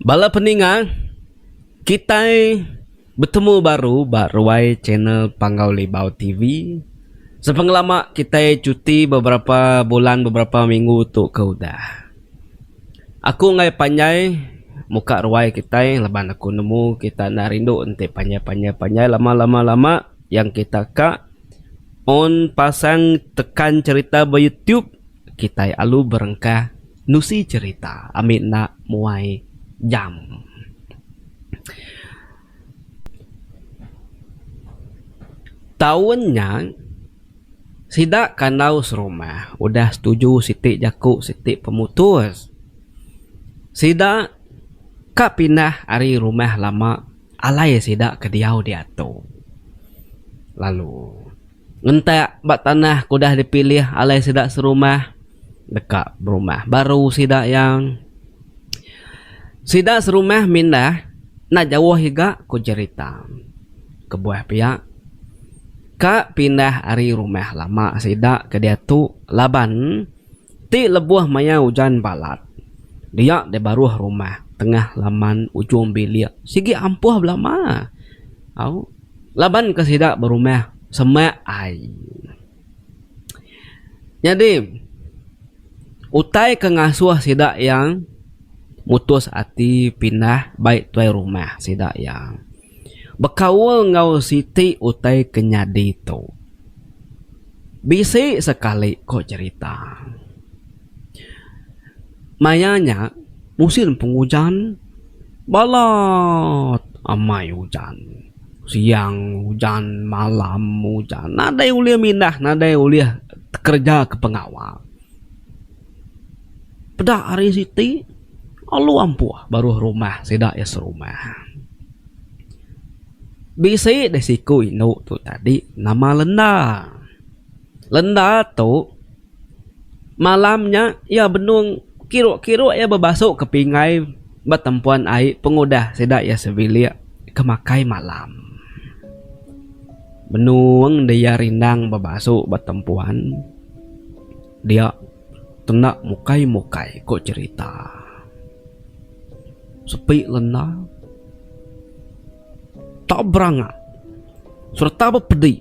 Bala peninga, kitai betemu baru ba ruai channel Panggau Libau TV. Sepengelama kitai chuti beberapa bulan beberapa minggu tu ke udah. Aku enggai panjai muka ruai kitai laban aku nemu kita enda rindu enti panjai panjai panjai lama lama lama yang kita ka un pasang tekan cherita ba YouTube kitai alu berengkah. Nusi cerita ami enda muai jam. Taun nya sida kandau serumah udah setuju siti jaku siti pemutus. Sida ka pindah ari rumah lama alai sida ke diau diatu lalu. Ngentak ba tanah ke udah dipilih alai sida serumah deka berumah baru sida iya. Sida serumah mindah enda jauh iga ku jerita. Kebuah pia ka pindah ari rumah lama sida ke diatu laban ti lebuh maya ujan balat dia deh baruh rumah tengah laman ujung bilik sigi ampuh belama. Au. Laban ke sida berumah semak ai. Nyadi, utai ke ngasuh sida iya mutus ati pindah bai tuai rumah sida iya. Bekaul enggau siti utai ke nyadi tu bisi sekali, ku cherita. Maya nya musin pengujan balat amai ujan. Siang ujan malam ujan nadai ulih mindah nadai ulih kerja ke pengawa. Peda hari siti alu ampuh baruh rumah sida iya serumah. Bisi deh siku indu tu tadi nama lenda. Lenda tu, malam nya iya benung kiruk-kiruk iya bebasu ke pingai ba tempuan ai pengudah sida iya sebilik ke makai malam. Benung deh iya rindang bebasu ba tempuan dia tenda mukai-mukai ku cherita. Sepi lenda, tau beranga sereta bepedi.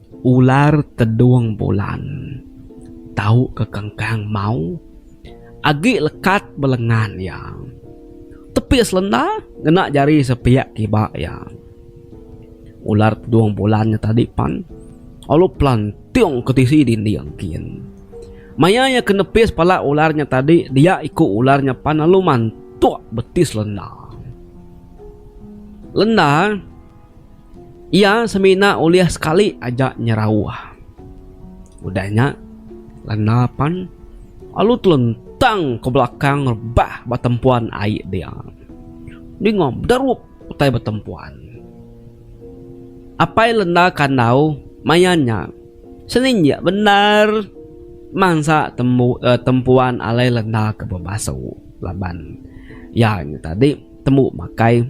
Ular tedung bulan tau ke kengkang mau agi lekat ba lengan iya. Tepi selenda ngena jari sepiak kiba iya. Ular tedung bulan nya tadi pan lalu pelantung ke tisi dinding kin. Maya iya ke nepis pala ular nya tadi dia iku ular nya pan lalu mantuk beti selenda. Lenda. Iya semina ulih sekali aja nyerauh. Udah nya, Lena pan lalu telentang ke belakang rebah ba tempuan ai dia. Ninga bederup utai ba tempuan. Apai Lena kandau maya nya seninjik bendar mansa tembu tempuan alai Lena ke bebasuh laban iya nya tadi. Tembu makai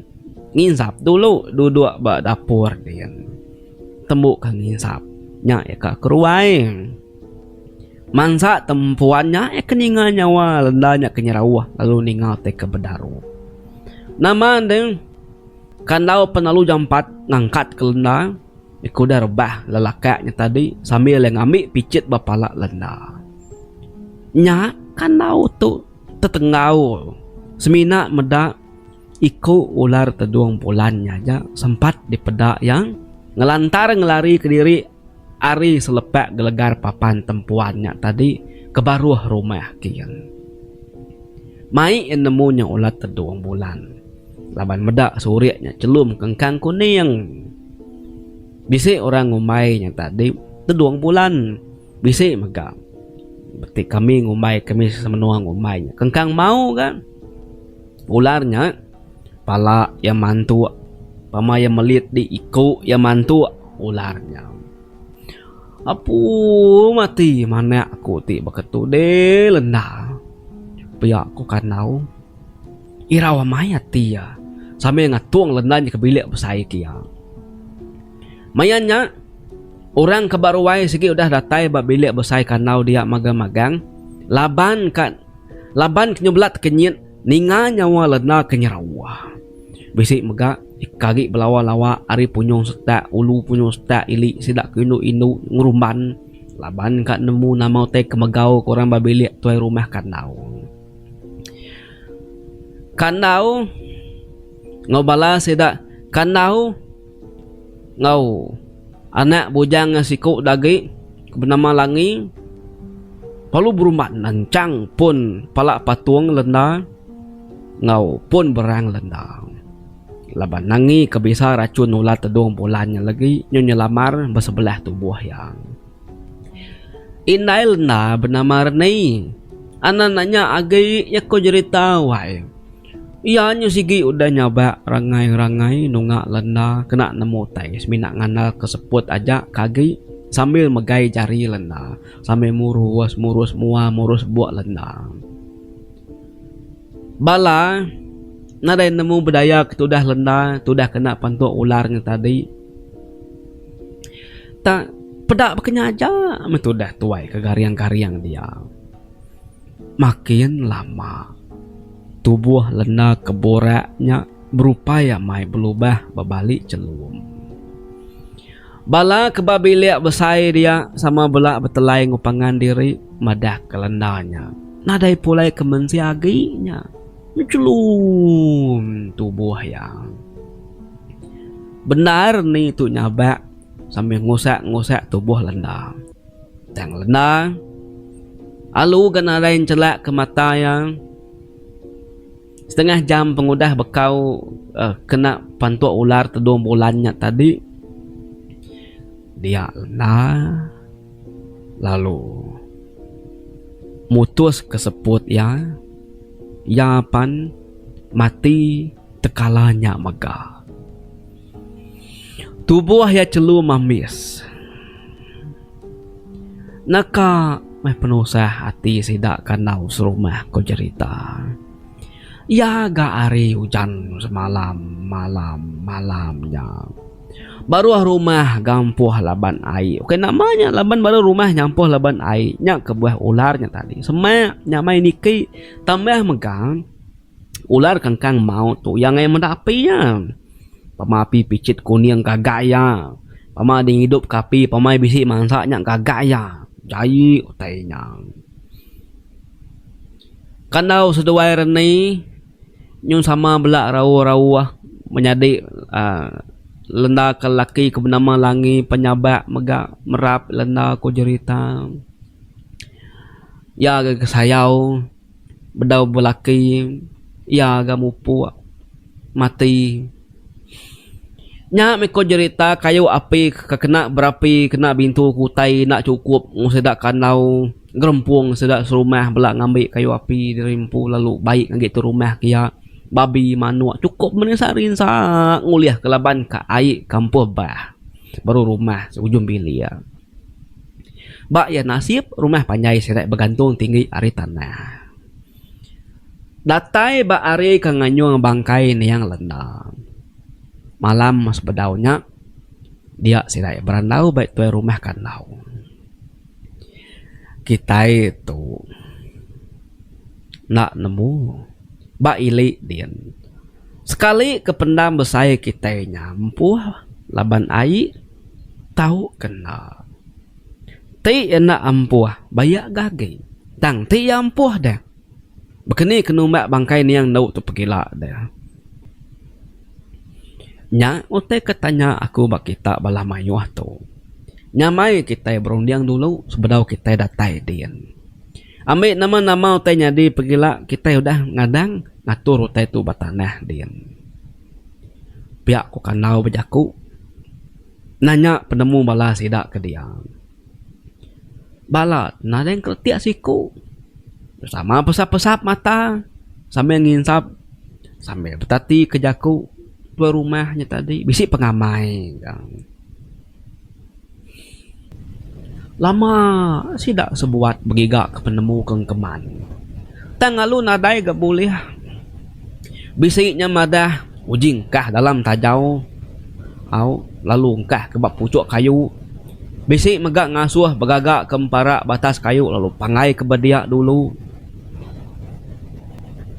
nginsap dulu duduk ba dapur din. Tembu ka nginsap nya iya ka ke ruai. Mansa tempuan nya iya ke ninga nyawa lenda nya ke nyerauh lalu ninga utai ke bedaru. Nama deh kandau penalu jampat ngangkat ke lenda ku deh rebah lelaka nya tadi sambil iya ngambi pichit ba pala lenda. Nya kandau tu. Tetengaul, semina meda iku ular tedung pulan nya aja sempat dipeda iya ngelantar ngelarika diri ari selepak gelegar papan tempuan nya tadi ke baruh rumah King. Mai iya nemu nya ular tedung pulan laban meda surik nya chelum ke engkang kuning. Bisi orang ngumbai nya tadi tedung pulan. Bisi mega beti kami ngumbai kami semenua ngumbai nya kengkang mau ga ular nya pala iya mantuk pama iya melit di iku iya mantuk ular nya apu mati manak aku ti baka tu deh lenda pia ku kandau irau amai ati iya sambil ngatung lenda nya ke bilik besai ke iya. Maya nya, orang ke ba ruai sigi udah datai ba bilik besai kandau dia magang magang, laban ka laban ke nyubelat kenyit ninga nyawa lena ke nyerawa. Bisi mega ke agi belawa lawa ari punyung setak ulu punyung setak ili sida ke indu indu ngerumban laban ka nemu nama utai ke megau ke orang ba bilik tuai rumah kandau. Kandau enggau bala sida kandau. Enggau anak bujang iya siku da agi ke benama Langi perlu berumban nanchang pun pala patung lenda enggau pun berang lenda laban Langi ke bisa rachun nular tedung bulan nya legi nyu nyelamar ba sebelah tubuh iya. Indai lenda benama Reni anak nya agi iya ko jerita wai. Iya nya sigi udah nyabak rangai-rangai nunga lenda kena nemu utai semina ngandalka seput aja ke agi sambil megai jari lenda sambil murus murus mua murus buk lenda. Bala nadai nemu budaya ke tudah lenda tudah kena pentu ular ngan tadi tak peda ba ke nya aja meh tudah tuai ke garing-garing dia. Makin lama, tubuh lena ke burak nya berupai amai belubah bebali chelum. Bala ke ba bilik besai dia sama bela betelai enggau pangan diri madahka lenda nya nadai pulai ke mensia agi nya bechelum tubuh iya. Bendar ni tu nyabak sambil ngusak-ngusak tubuh lenda. Tang lenda, alu ga nadai nchelak ke mata iya. Setengah jam pengudah bekau kena pantuk ular tedung bulan nya tadi, dia lenda lalu mutuska seput iya. Iya pan mati tekala nya mega. Tubuh iya chelu mamis. Naka meh penusah ati sida kandau serumah, ku jerita. Iya ga ari ujan semalam malam malam nya. Baruh rumah gampuh laban ai. Uka nama nya laban baruh rumah ngampuh laban ai. Nya kebuah ular nya tadi. Semak nya mai niki tambah mega. Ular kangkang maut tu iya ngayan meda api iya. Pama api pichit kuning gaga iya. Pama deh ngidup ke api pama iya bisi mansa nya gaga iya. Jaie utai inya. Kandau seduai rani nyun sama bela rauh-rauh menyadi uhh lenda ke laki ke benama Langi penyabak mega merap lenda ku jerita. Iya agi ke sayau. Bedau belaki iya ga mupuk mati. Nya meh ko jerita kayu api ke kena berapi kena bintu ke utai enda chukup mung sida kandau gerempung sida serumah bela ngambi kayu api diri empu lalu bai ngagai tu rumah ke iya babi manuk chukup mene sehari ensa ngulih ke laban ka ai ke ampuh bah baru rumah ujung bilik. Ba iya nasib rumah panjai sida begantung tinggi ari tanah. Datai ba hari ke nganyung bangkai niang lenda. Malam sebedau nya dia sida berandau ba tuai rumah kandau. Kitai tu enda nemu ba ili din sekali ke pendam besai kitai nya empuh laban ai. Tau kena. Ti enda ampuh, bayak ga agi. Tang ti iya ampuh deh. Bekeni ke numbak bangkai niang endu tu pegila deh. Nya utai ke tanya aku ba kita bala maioh tu. Nyamai kitai berunding dulu sebedau kitai datai din. Ambi nama-nama utai nyadi pegila kitai udah ngadang ngatur utai tu ba tanah din. Pia ku kandau bejaku nanya penemu bala sida ke diau. Bala nading kretek siku sama pesap-pesap mata sambil nginsap sambil betati ke jaku tuan rumah nya tadi bisi pengamai. Lama sida sebuat begiga ke penemu ke engkeman. Tang lalu nadai ga bulih. Bisi nya madah uji engkah dalam tajau au lalu engkah ke ba puchok kayu. Bisi mega ngasuh begaga ke empara batas kayu lalu panggaiga ba dia dulu.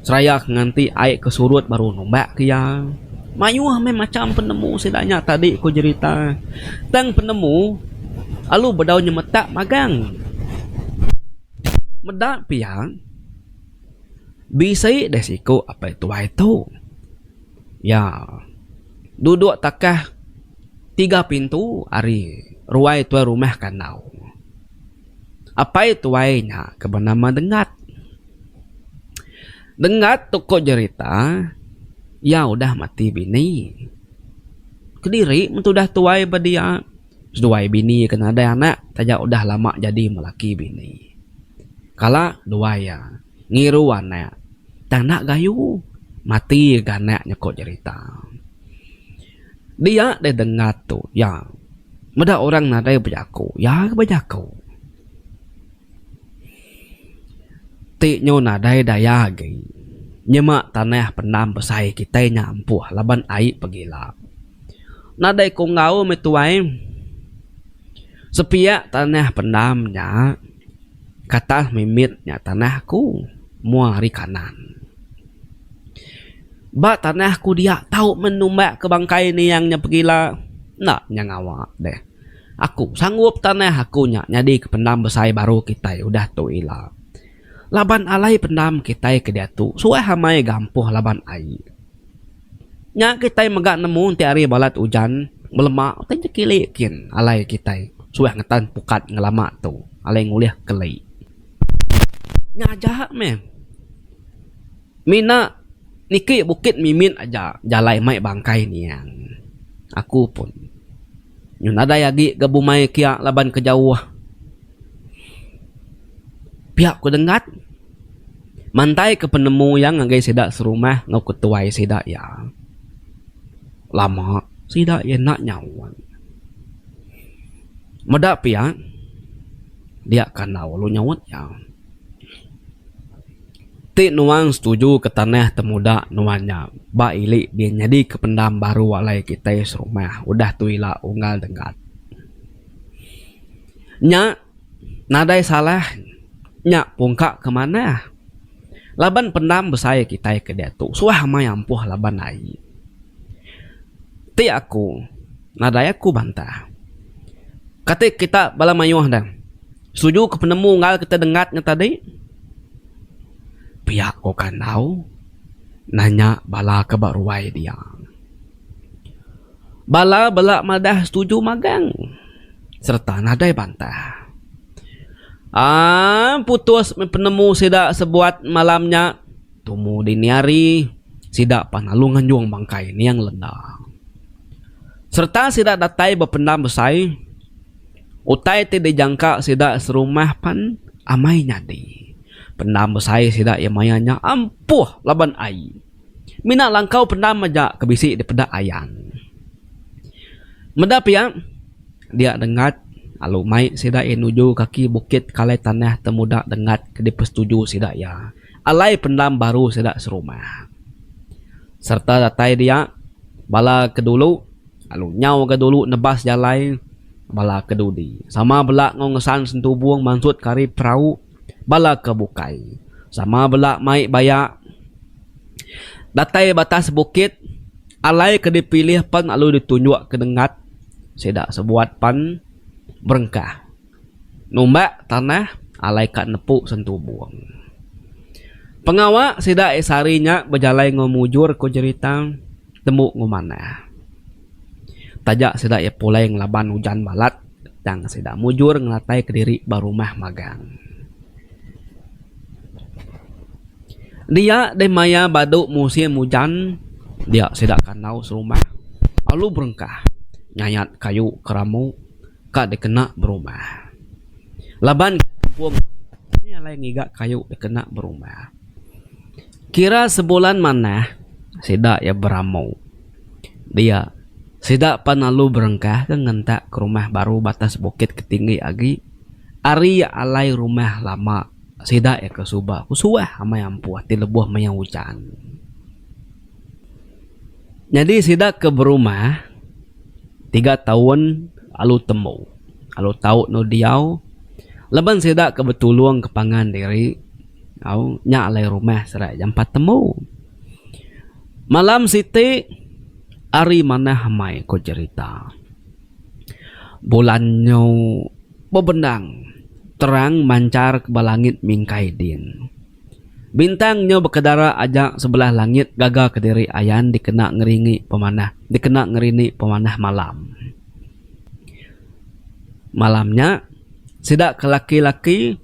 Seraya ke nganti ai ke surut baru numbak ke iya. Mayuh meh macham penemu sida nya tadi ku jerita. Tang penemu alu bedau nyemetak magang. Meda pia bisi deh siku apai tuai tu iya duduk takah tiga pintu ari ruai tuai rumah kandau. Apai tuai nya ke benama Dengat. Dengat tu ko jerita iya udah mati bini. Kediri men tu udah tuai ba dia seduai bini ke nadai anak taja udah lama jadi melaki bini. Kala duai iya ngiru anak tang enda gayu mati ga anak nya ko jerita. Dia deh dengar tu, ya. Meda orang nadai bejaku, ya ke bejaku. Ti nyu nadai daya agi. Nyema tanah pendam besai kitai nya ampuh laban ai pegila. Nadai ku enggau meh tuai. Sepiak tanah pendam nya katah mimit nya tanah aku mua ari kanan. Ba tanah ku dia tau men numbak ke bangkai niang nya pegila enda nya ngawa deh. Aku sanggup tanah aku nya nyadi ke pendam besai baru kitai udah tu ila. Laban alai pendam kitai ke diatu suah amai gampoh laban ai. Nya kitai mega nemu enti hari balat ujan belema utai jekili kin alai kitai suah ngetan pukat ngelama tu alai ngulih keli. Nya aja meh. Mina niki bukit mimit aja jalai mai bangkai niang. Aku pun nyun nadai agi ga bumai kia laban ke jauh. Pia ku Denggat mantai ke penemu iya ngagai sida serumah enggau ketuai sida iya. Lama sida iya enda nyaut. Meda pia. Dia kandau lalu nyaut iya. Ti nuan setuju ke tanah temuda nuan nya ba ili dia nyadika pendam baru alai kitai serumah udah tu ila unggal denggat. Nya nadai salah nya pungka ke manah laban pendam besai kitai ke diatu suah amai ampuh laban ai. Ti aku. Nadai aku bantah. Kati kita bala mayuh dang setuju ke penemu enggau kita dengat nya tadi? Pia ko kandau nanya bala ke ba ruai dia. Bala bela madah setuju magang sereta nadai bantah. Aaa putus meh penemu sida sebuat malam nya. Tumu dini hari, sida pan lalu nganjung bangkai Niang Lenda sereta sida datai bependam besai utai ti dijangka sida serumah pan amai nyadi. Pendam besai sida iya maya nya ampuh laban ai. Mina langkau pendam aja ke bisi dipeda Ayan. Meda pia, dia Denggat lalu mai sida iya nuju kaki bukit Kalai Tanah Temuda Denggat ke dipesetuju sida iya. alai pendam baru sida serumah sereta datai dia bala ke dulu lalu nyau ga dulu nebas jalai bala ke dudi sama bela enggau ngesan sentubung mansut ke ari perau bala ke bukai sama bela mai baya datai batas bukit alai ke dipilih pen lalu ditunjuk ke nenggat sida sebuat pan berengkah. Numbak tanah alai ka nepu sentubung. Pengawa sida ai sehari nya bejalai enggau mujur ku jerita tembu enggau manah. Taja sida iya pulai ngelaban ujan balat tang sida mujur ngelateka diri ba rumah magang. Dia deh maya badu musim ujan dia sida kandau serumah alu berengkah nyayat kayu ke rambu. ka dikena berumah. Laban ke kampung nya alai ngiga kayu dikena berumah. Kira sebulan manah sida iya beramu dia sida pan lalu berengkah ke ngentak ke rumah baru batas bukit ke tinggi agi ari alai rumah lama sida iya ke suba ku suah amai ampuh ti lebuh maya ujan. Nyadi sida ke berumah tiga taun lalu tembu lalu tau endur diau laban sida ke betulung ke pangan diri au nya alai rumah sida jampat tembu. Malam siti ari manah amai ku jerita bulan nyu bebendang terang manchar ke ba langit mingkai din. Bintang nyau bekedara aja sebelah langit gaga kediri ayan dikena ngeringi pemanah dikena ngerini pemanah malam. Malam nya sida ke laki-laki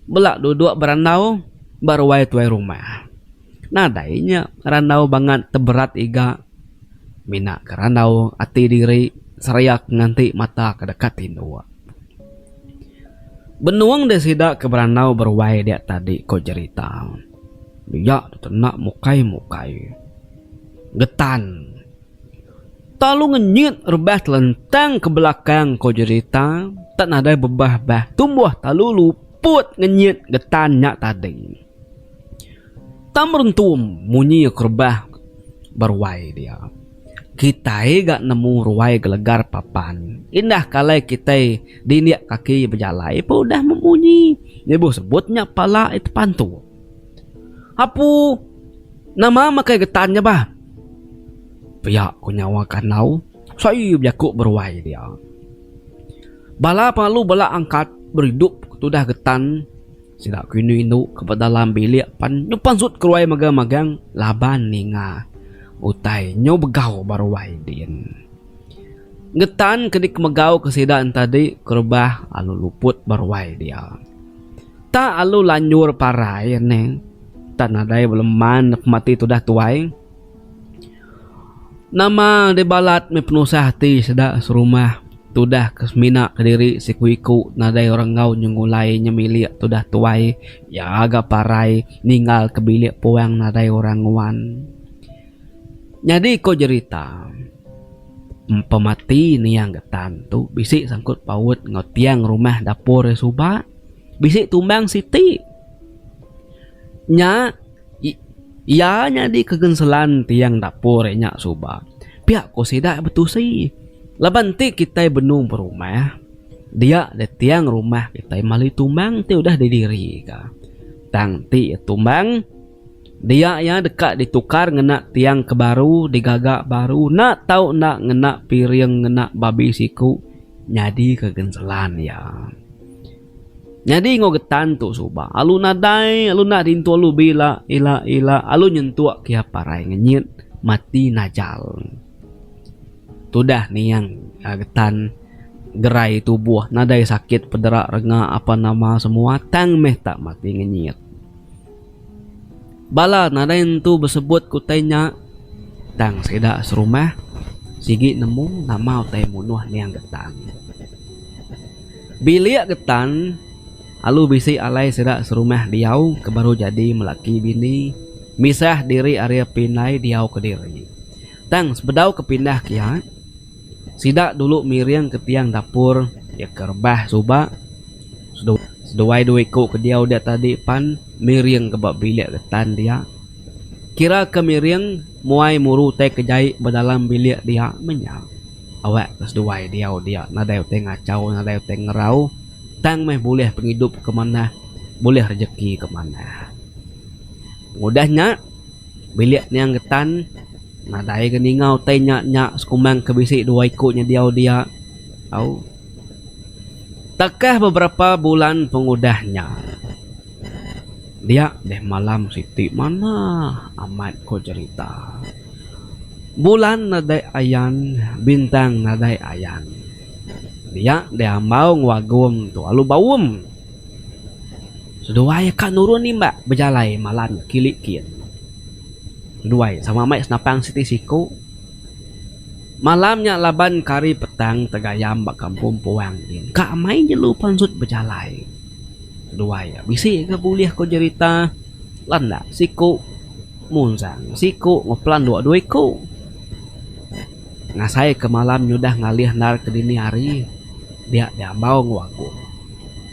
bela duduk berandau ba ruai tuai rumah. Nadai nya randau bangat teberat iga mina ke randau ati diri seriak nganti mata ke deka tinduk. Benung deh sida ke berandau beruai dia tadi, ko Jerita. Dia tu enda mukai-mukai. Getan. Tau lu ngenyit rebah telentang ke belakang, ko Jerita. Tak nadai bebah bah tumbuh talu luput ngenyit getan nya tadi. Tau merentum munyi ke rebah beruai dia. Kitai ga nemu ruai gelegar papan. Indah ke alai kitai dindik kaki bejalai pun udah memunyi. Ibuh sebut nya pala iya tepan tu. Apu, nama makai getan nya bah? Pia ku nyawa kandau sayuh bejaku beruai dia. Bala pengalu bala angkat beridup ke tudah getan. Sida ku indu indu ke ba dalam bilik pan nyu pansut keruai mega magang laban ninga utai nyu begau ba ruai din. Ngetan ke dikemegau ke sida entadi ke rebah alu luput ba ruai dia. Tak alu lanjur parai neh. Tak nadai beleman pemati tudah tuai. Nama deh balat meh penusah ati seda serumah tudah ke semina kediri siku iku nadai orang enggau nyengulai nyemilik tudah tuai iya ga parai ninggal ke bilik puang nadai orang nguan. Nyadi ko jerita pemati niang getan tu bisi sangkut paut enggau tiang rumah dapur iya suba bisi tumbang siti nya Iya nyadi ke genselan tiang dapur nya suba, pia ku sida betusi. Laban ti kitai benung berumah, dia deh tiang rumah kitai mali tumbang ti udah didirika. Tang ti iya tumbang, dia iya deka ditukar ngena tiang ke baru digaga baru enda tau enda ngena piring ngena babi siku nyadi ke genselan iya. Nyadi enggau getan tu suba alu nadai alu enda rintu alu bila ila ila alu nyentuk ke iya parai ngenyit mati najal. Tudah niang a getan gerai tubuh nadai sakit pedera renga apa nama semua tang meh tak mati ngenyit. Bala nadai nentu besebut ke utai nya tang sida serumah sigi nemu nama utai munuh niang Getan. Bilik Getan alu bisi alai sida serumah diau ke baru jadi melaki bini misah diri ari api indai diau kediri. Tang sebedau ke pindah ke iya. Sida dulu miring ke tiang dapur iya ke rebah suba seduai dua iku ke diau dia tadi pan miring ke ba bilik getan dia. Kira ke miring muai muru utai ke jai ba dalam bilik dia meh nya. Awak ke seduai diau dia nadai utai ngachau nadai utai ngerau tang meh bulih pengidup ke manah bulih rejeki ke manah. Pengudah nya. Bilik niang getan nadai ga ninga utai nya nya sekumang ke bisi dua iku nya diau dia au. Takah beberapa bulan pengudah nya dia deh malam siti manah amat ko cerita. Bulan nadai ayan bintang nadai ayan. Dia deh ambau enggau agum tu lalu baum. Seduai ka nurun nimbak bejalai malan kili kin. Seduai sama meh senapang siti siku. Malam nya laban ke hari petang tegayam ba kampung puang din ka amai jelu pansut bejalai. Seduai bisi ga bulih ko jerita landak siku munzang siku ngepelan dua dua iku. ngasai ke malam nyudah ngalih endar ke dini hari dia diambau enggau aku.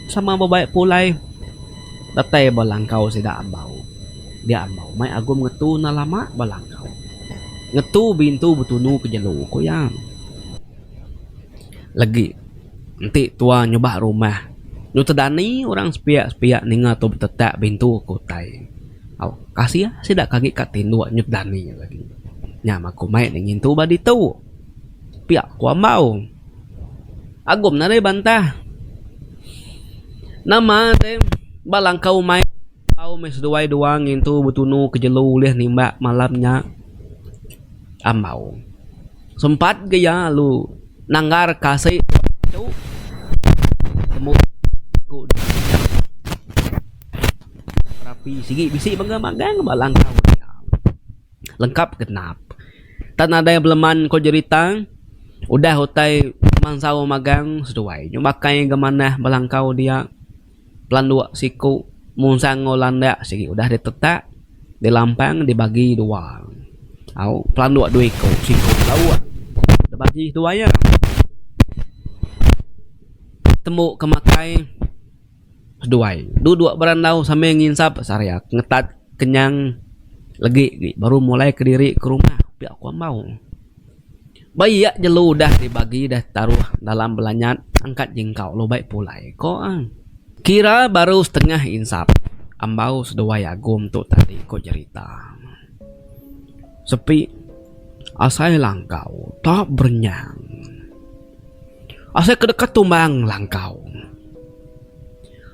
Sama bebai pulai datai ba langkau sida ambau. Dia ambau mai Agum ngetu enda lama ba langkau. Ngetu bintu betunu ke jelu, ku iya. Legi enti tua nyubak rumah, nyuta dani orang sepiak-sepiak ninga tu betetak bintu ke utai. Kasih ah sida ke agi ka tinduk nyut dani nya tadi. Nya mah ku mai deh ngintu ba ditu. Pia ku ambau. Agum nadai bantah. Nama te ba langkau umai tau meh seduai dua ngintu betunu ke jelu ulih nimbak malam nya ambau. Sempat ke iya lalu nanggar kasi tu temu ku deh. Berapi sigi bisi mega magang ba langkau nya. Lengkap genap. Tan nadai beleman ko jerita udah utai mansau magang seduai nyu bakai ga manah ba langkau dia. Pelandok siku mung sangau landak sigi udah ditetak dilampang dibagi dua. Au pelandok dua iko siku lauk dibagi dua iya. Tembu ke makai. Seduai. Tu dua berandau sambil nginsap sariak ngetat kenyang legi ti baru mulai kediri ke rumah pia ku ambau. Ba iya jelu udah dibagi udah taruh dalam belanyat angkat jingkau lalu bai pulai ko ang. Kira baru setengah insap, ambau seduai Agum tu tadi ko jerita. Sepi asai langkau ta berenyang. Asai ke deka tumbang langkau.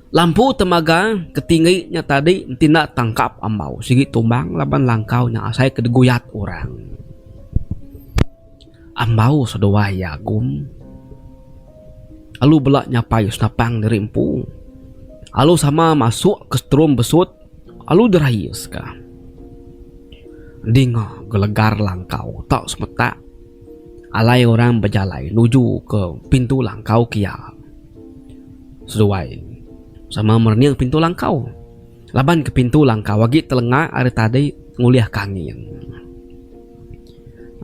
Lampu temaga ke tinggi nya tadi enti enda tangkap ambau sigi tumbang laban langkau nya asai ke diguyat orang. Ambau seduai iya agum lalu bela nyapai senapang diri empu lalu sama masuk ke setrum besut. Alu Darius ka dinga gelegar langkau tau semetak alai orang bejalai nuju ke pintu langkau kia. Seduai sama merening pintu langkau laban ke pintu langkau agi telenga ari tadi ngulihka angin.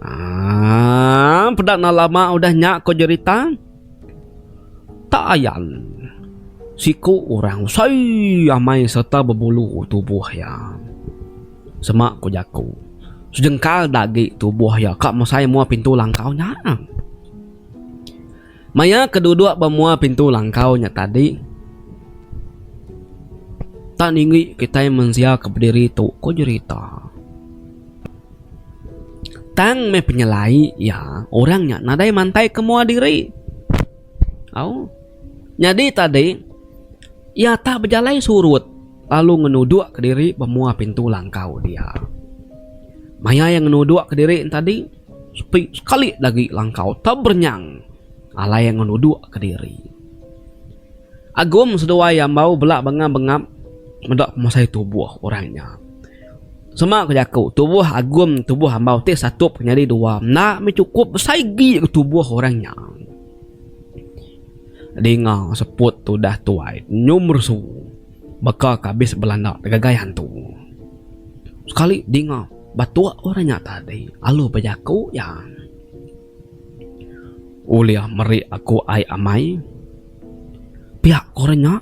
Aaa peda enda lama udah nya ko jerita. Tak ayan, siku orang besai amai sereta bebulu tubuh iya. Sema ku jaku, sejengkal da agi tubuh iya ka mesai mua pintu langkau nya. Maya ke duduk ba mua pintu langkau nya tadi, tak ninggi kitai mensia ke bediri tu, ku jerita. Tang meh penyelai iya, orang nya nadai mantai ke mua diri. Au. Nyadi tadi, iya tak bejalai surut lalu ngenudukka diri ba mua pintu langkau dia. Maya iya ngenudukka diri ne tadi, sepi sekali agi langkau teberenyang alai iya ngenudukka diri. Agum seduai iya embau bela bengap-bengap meda pemasai tubuh orang nya. Sema ku jaku, tubuh agum tubuh ambau ti satup ke nyadi dua enda mih chukup besai agi ku tubuh orang nya. Dinga seput tu udah tuai nyu meresu baka ke abis belanda tegagai hantu. Sekali dinga batuk orang nya tadi alu bejaku iya. Ulih meri aku ai amai. Pia ku orang nya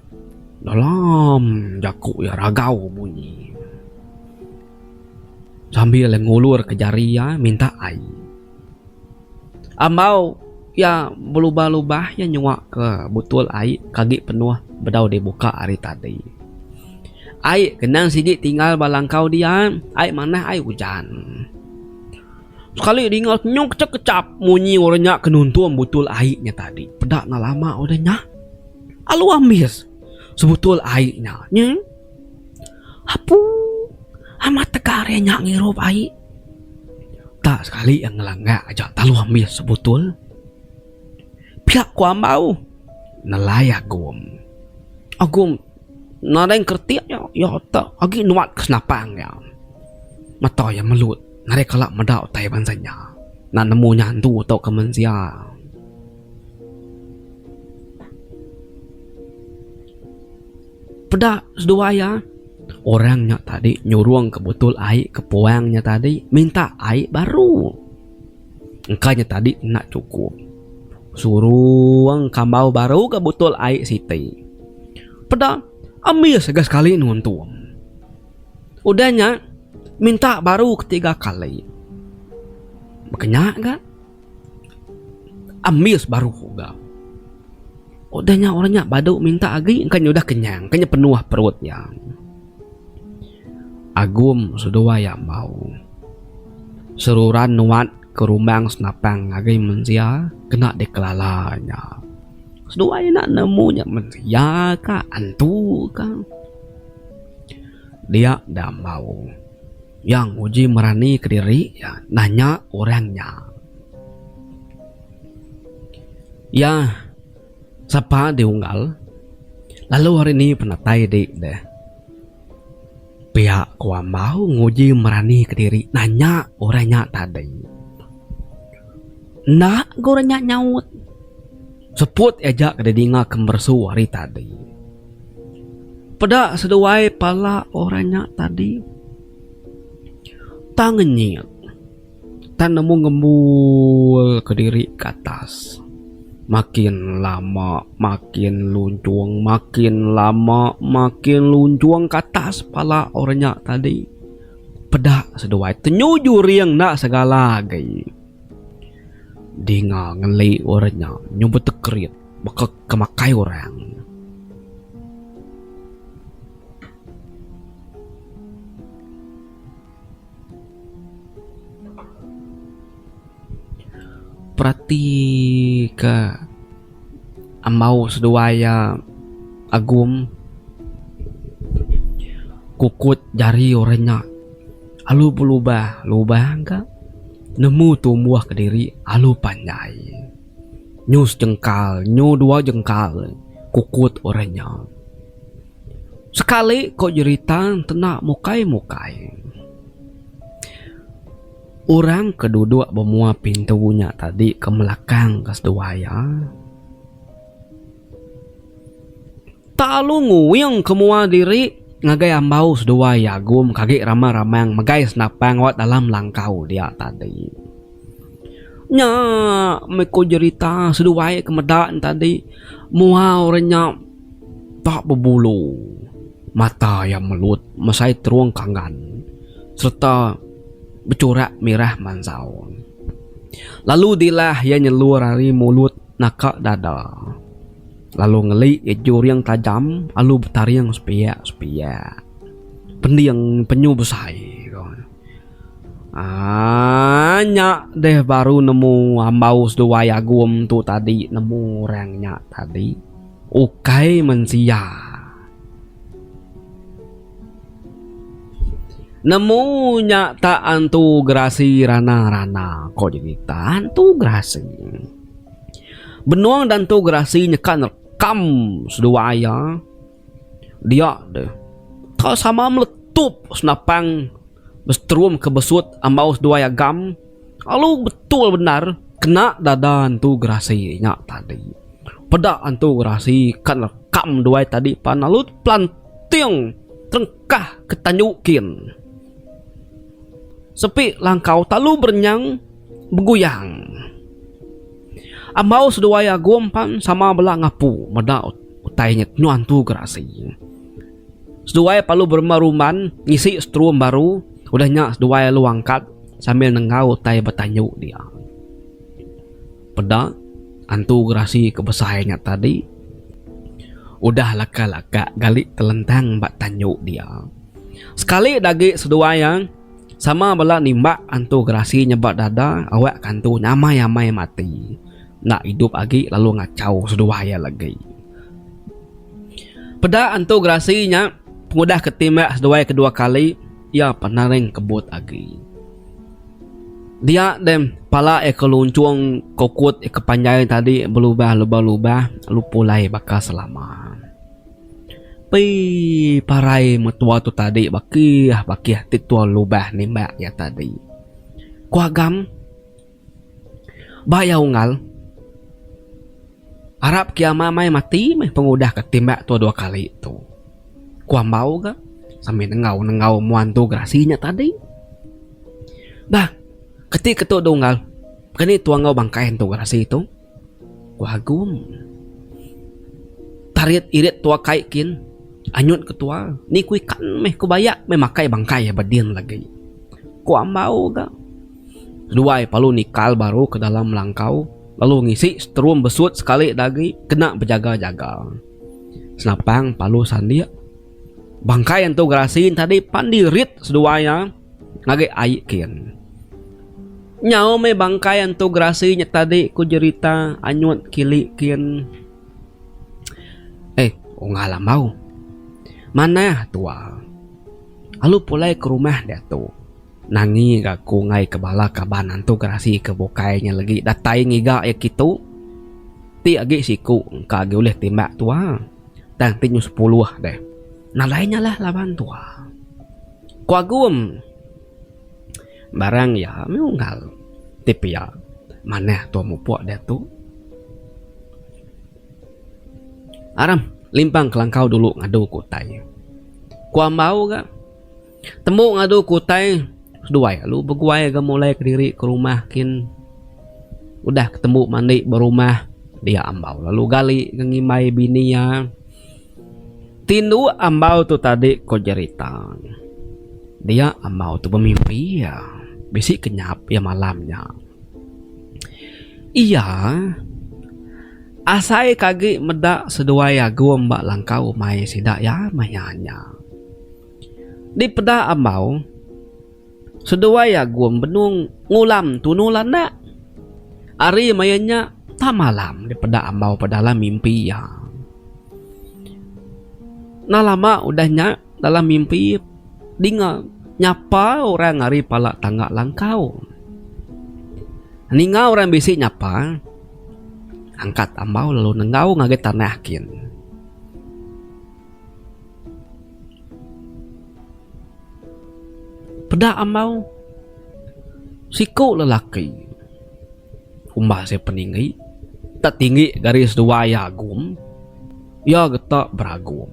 dalam jaku iya ragau bunyi sambil iya ngulur ka jari iya minta ai. Ambau iya belubah lubah iya nyua ka butul ai ka agi penuh bedau di buka ari tadi. Ai ke endang sigi tinggal ba langkau dian ai manah ai ujan. Sekali dinga senyum kechap-kechap munyi orang nya ke nuntung butul ai nya tadi. Peda enggau lama udah nya. Alu ambis sebutul ai nya. Nyi. Apu amat tega ari nya ngirup ai. Tak sekali iya ngelanggak aja talu ambis sebutul. Pia ku ambau nelai Agum. Agum. Nadai engkeretik nya iya atak agi nuan ke senapang iya. Mata iya melut nadai kala meda utai bansa nya nan nemu nya andu tauka mensia. Peda seduai iya orang nya tadi nyurung ke botol ai ke puang nya tadi minta ai baru. Engka nya tadi enda chukup. Surung kambau baru ga butul ai siti. Peda ambis ga sekali nuntung. Udah nya minta baru ketiga kali. Baka nya ga ambis baru ga. Udah nya orang nya badu minta agi engka nya udah kenyang, engka nya penuh perut iya. Agum seduai ambau. Seruran nuat ke rumbang senapang ngagai mensia kena dikelala nya. Seduai enda nemu nya mensia ka antu ka. Dia da ambau. Yang uji merani kediri iya nanya orang nya. Iya. Sapa di unggal, lalu ari ni penatai di deh. Pia ku Amau nguji merani ke diri nanya orang nya tadi. Enda ga orang nya nyaut. Seput aja ke didinga ke meresu hari tadi. Peda seduai pala orang nya tadi. Tang ngenyit. Tang nemu ngembul kediri ke atas. Makin lama makin lunchung makin lama makin lunchung ke atas pala orang nya tadi. Peda seduai tenyu juring enda segala agi. Dinga ngeli orang nya nyu betekrit baka ke makai orang. Perati ke ambau seduai iya Agum kukut jari orang nya alu belubah lubah ka nemu tumbuh kediri alu panjai nyu sejengkal nyu dua jengkal kukut orang nya. Sekali ko jerita entena mukai mukai. Orang ke duduk ba mua pintu nya tadi ke melakang ke seduai iya tak alu nguing ke mua diri ngagai ambau seduai iya Agum ke agi ramang ramang megai senapang awak dalam langkau dia tadi. Nya meh ko jerita seduai ke meda tadi mua orang nya. Tak bebulu, mata iya melut mesai terung kanggan sereta bechurak mirah mansau. Lalu dilah iya nyelur ari mulut naka dada lalu ngeli iya juring tajam alu betaring sepiak-sepiak. Pending penyu besai ko. Aaa nya deh baru nemu ambau seduai agum tu tadi nemu orang nya tadi. Ukai mensia. Nemu nya tak antu gerasi rana rana ko jadi tak antu gerasi. Benung dah antu gerasi nyeka nerekam seduai iya dia deh tau sama meletup senapang besetrum ke besut ambau seduai agam. Alu betul bendar kena dada entu gerasi nya tadi. Peda entu gerasi ka nekam duai tadi pan alu pelanting terengkah ke tanyu kin. Sepi langkau talu berenyang beguyang. Ambau seduai agum pan sama bela ngapu meda utai nya nuan tu gerasi. Seduai palu beremba ruman ngisi strum baru udah nya seduai alu angkat sambil nenggau utai betanyu dia. Peda antu gerasi ke besai nya tadi udah laka-laka gali telentang ba tanyu dia. Sekali da agi seduai iya sama bala nimbak antu gerasi nyebak dada awakka antu nya amai-amai mati enda idup agi lalu ngachau seduai iya lagi. Peda Antu Gerasi nya pengudah ke timba seduai ke dua kali iya penaring kebut agi. Dia deh pala iya ke lunchung kokut iya ke panjai tadi belubah lubah lubah lalu pulai baka selama. Pei parai metua tu tadi bakih bakih ti ketua lubah nimbak iya tadi. Ku agam. Ba iya unggal, arap kiama mai mati meh pengudah ke timbak tua dua kali tu. Ku Ambau ga sambil nenggau nenggau mua entu gerasi nya tadi. Bah, keti ketu deh unggal, keni tua enggau bangkai entu gerasi tu? Ku Agong. Tarit irit tua kai kin anyut ke tua. Ni ku ikan meh ku bayak meh makai bangkai iya beding lagi. Ku Ambau ga. Keduai palu nikal baru ke dalam langkau lalu ngisi strum besut sekali da agi kena bejaga jaga. Senapang palu sandik. Bangkai antu gerasi tadi pan dirit seduai iya. Ngagai ai kin. Nyau meh bangkai Entu Gerasi nya tadi ku Jerita anyut kili kin. Eh unggal amau. Manah tua. Alu pulai ke rumah diatu. Nangi ga aku enggai ke bala kaban Entu Gerasi ke bukai nya legi datai ngiga iya kitu. Ti agi siku engka agi ulih timbak tua. Tang ti nyu sepuluh deh. Nadai nya lah laban tua. Ku Agum, barang iya meh unggal ti pia manah tua mupuk diatu. Aram, limpang kelangkau dulu ngadu ku utai. Ku Ambau ga, tembu ngadu ku utai seduai lalu beguai ga mulai kediri ke rumah kin. Udah ke tembu mandi ba rumah dia Ambau lalu gali ga ngimbai bini iya. Tinduk ambau tu tadi ko jerita dia ambau tu bemimpi iya bisi kenyap iya malam nya iya asai ke agi meda seduai agum ba langkau umai sida iya maya nya dipeda ambau. Seduai agung benung ngulam tunul anak. Ari maya nya tang malam deh peda ambau pa dalam mimpi iya. Enda lama udah nya dalam mimpi dinga nyapa orang ari pala tangga langkau. Ninga orang bisi nyapa angkat ambau lalu nenggau ngagai tanah kin. Peda ambau siku lelaki umbah sia peninggi tak tinggi garis dua iya agum iya geta beragum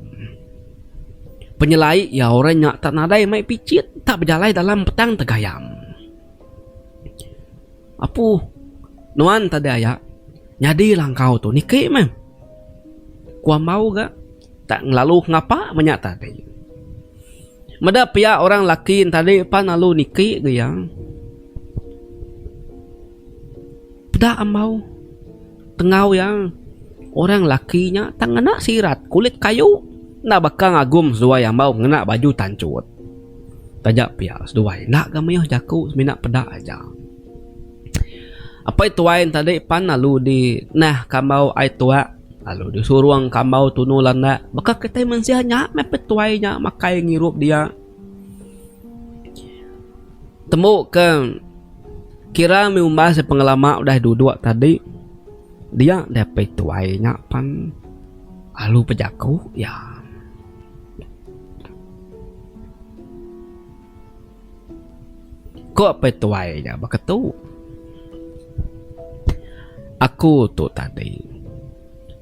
penyelai iya orang nya tak nadai mai picit tak bejalai dalam petang tegayam. Apu, nuan tadi aya nyadi langkau tu niki meh. Ku Ambau ga tak ngelalu ngapa menya tadi. Meda pia orang laki tadi pan lalu niki ga iya. Peda Ambau. Tengau iya, orang lelaki nya tang ngena sirat kulit kayu enda baka ngagum seduai ambau ngena baju tanchut. Taja pia seduai enda ga mayuh jaku semina peda aja. Apai tuai ne tadi pan lalu dinahka ambau ai tuak lalu disurungka ambau tunu landak. Baka kitai mensia nya meh petuai nya makai ngirup dia. Tembu ke kira mih umbas iya pengelama udah duduk tadi dia dapih tuai nya pan alu bejaku iya. Ko peh tuai nya baka tu aku tu tadi.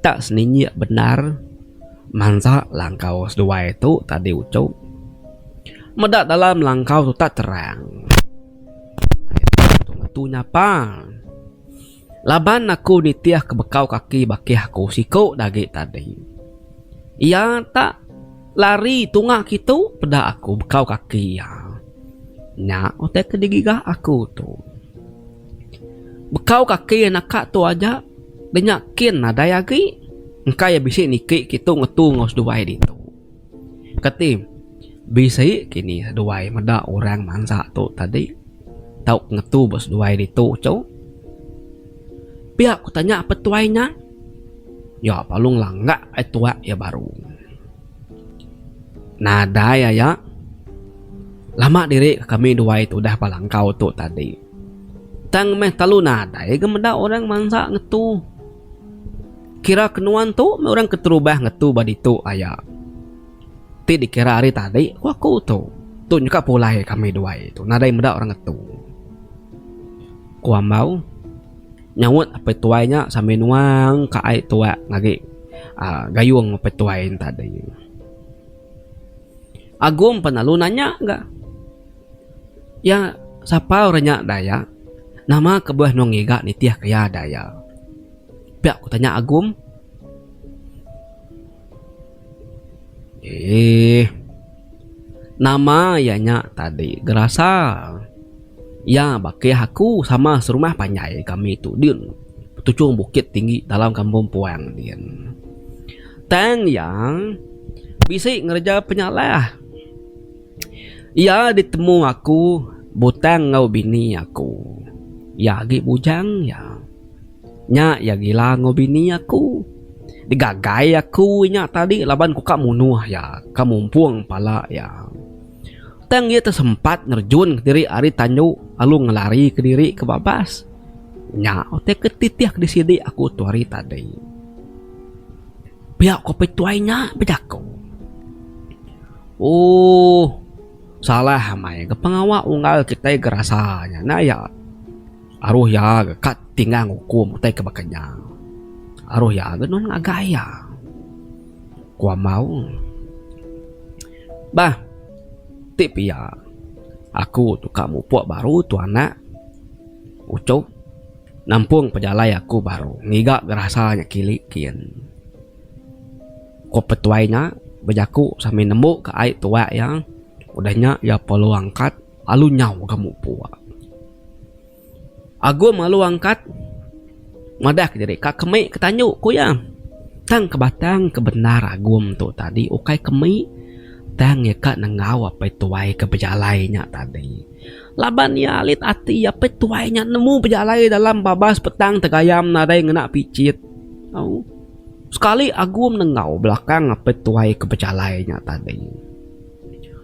Enda seninyik bendar mansa langkau seduai tu tadi uchu. Meda dalam langkau tu tak terang. Ngetu nyapa. Laban aku nitih ke bekau kaki bakih aku siku dagi tadi. Iya tak lari tunga kitu peda aku bekau kaki iya. Nya utai ke digiga aku tu. Bekau kaki naka tu aja. Da nya kin nadai agi, engka iya bisi niki kitu ngetu enggau seduai ditu. Kati bisi kini seduai meda orang mansa tu tadi tau ngetu ba seduai ditu tu? Pia ku tanya petuai nya. Nya Palung langak ai tuak iya baru. Nadai aya. Lama diri kami duai tudah ba langkau tu tadi. Tang meh talu nadai ga meda orang mansa ngetu. Kira ke nuan tu meh orang keterubah ngetu ba ditu aya ti dikira ari tadi ku aku tu. Tu nyau ka pulai kami duai tu nadai meda orang ngetu, ku Ambau nyaut apai tuai nya sambil nuang ka ai tuak agi uhh gayung apai tuai ne tadi. Agum pan lalu nanya ga. Iya sapa orang nya daya? Nama kebuah enung ngiga nitih ke iya daya? Pia ku tanya Agum. Eee nama iya nya tadi gerasa. Iya bakih aku sama serumah panjai kami tu din betuchung bukit tinggi dalam kampung puang din. Tang iya bisi ngereja penyalah. Iya ditemu aku butang enggau bini aku. Iya agi bujang iya. Nya iya gila enggau bini aku. Digagai aku inya tadi laban ku ka munuh iya, ka mumpung pala iya. Tang iya tesempat nerjunka diri ari tandu lalu ngelarika diri ke babas. Nya utai ke titih di sidi aku tu hari tadi. Pia ku apai tuai nya bejaku. Ooh. Salah amai ga pengawa unggal kitai ga rasa nya enda iya. Aruh iya ga ka tinggang ukum utai ke baka nya. Aruh iya ga nulung ngagai iya, ku amau. Bah. Ti pia. Aku tu ka mupuk baru tu anak. Ucup. Nampung pejalai aku baru ngiga gerasa nya kili kin. Ko petuai nya bejaku sambil nembu ka ai tuak iya. Udah nya iya pelu angkat lalu nyau ga mupuk. Agum lalu angkat madah ke diri, Ka kemik ke tanyu, ku iya. Tang ke batang ke bendar Agum tu tadi ukai kemik tang iya ka nengau apai tuai ke bejalai nya tadi. Laban iya alit ati apai tuai nya nemu bejalai dalam babas petang tegayam nadai ngena pichit. Au. Sekali Agum nengau belakang apai tuai ke bejalai nya tadi.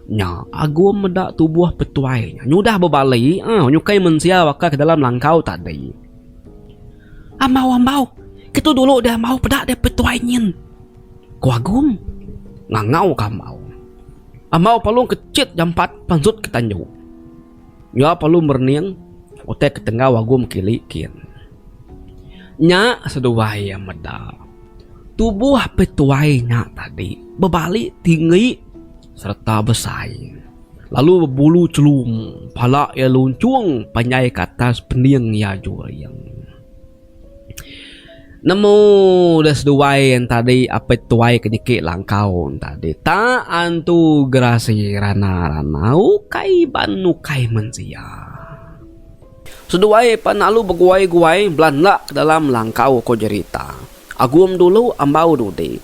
Nya, Agum meda tubuh Petuai nya nyudah bebali au nyukai mensia baka ke dalam langkau tadi. Ambau, ambau! Ketu dulu deh ambau peda deh Petuai nyin! ku Agum ngangau ke ambau. Ambau palung kechit jampat pansut ke tandu. Nya perlu merening utai ke tenggau agum kili kin. Nya seduai iya meda, tubuh pe tuai nya tadi bebali tinggi sereta besai lalu bebulu chelum pala iya lunchung panjai ke atas pening iya juring. Nemu da seduai ain tadi apai tuai ke niki langkau ain tadi ta antu gerasi rana rana ukai iban ukai mensia. Seduai pan lalu beguai guai bela enda ke dalam langkau ko jerita agum dulu ambau dudi.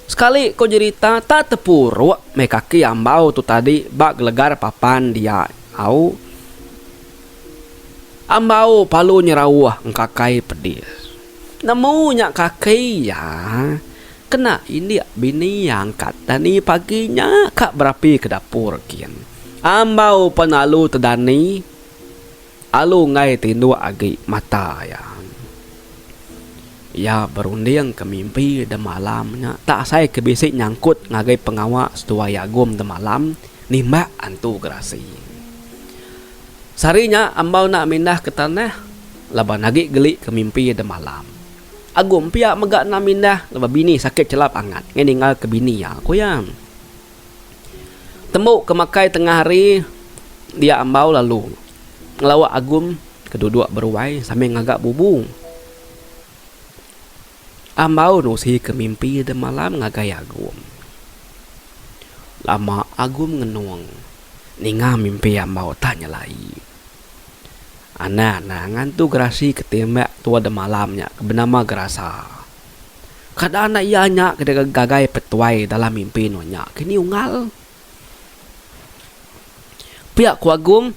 Sekali ko jerita ta tepurok meh kaki ambau tu tadi ba gelegar papan dia au. Ambau palu nyerauh engkakai pedis. Nemu nya kaki iya kena indik bini iya angkat dani pagi nya ka berapi ke dapur gin. Ambau pen alu tedani alu enggai tinduk agi mata iya. Iya berunding ke mimpi demalam nya tak asai ke bisi nyangkut ngagai pengawa seduai Agum demalam nimbak antu gerasi. Sehari nya Ambau enda mindah ke tanah laban agi geli ke mimpi demalam. Agum pia mega enda mindah laban bini sakit chelap angat ngena ninggal ke bini iya, ku iya. Tembu ke makai tengah hari dia Ambau lalu ngelawa Agum ke duduk beruai sambil ngaga bubu. Ambau Nusi ke mimpi demalam ngagai Agum. Lama Agum ngenung ninga mimpi Ambau tak nyelai. Anang anang ngantu gerasi ke timbak tua demalam nya ke benama Gerasa. Kada anak iya nya ke digagai Petuai dalam mimpi nunya kini unggal. Pia ku Agong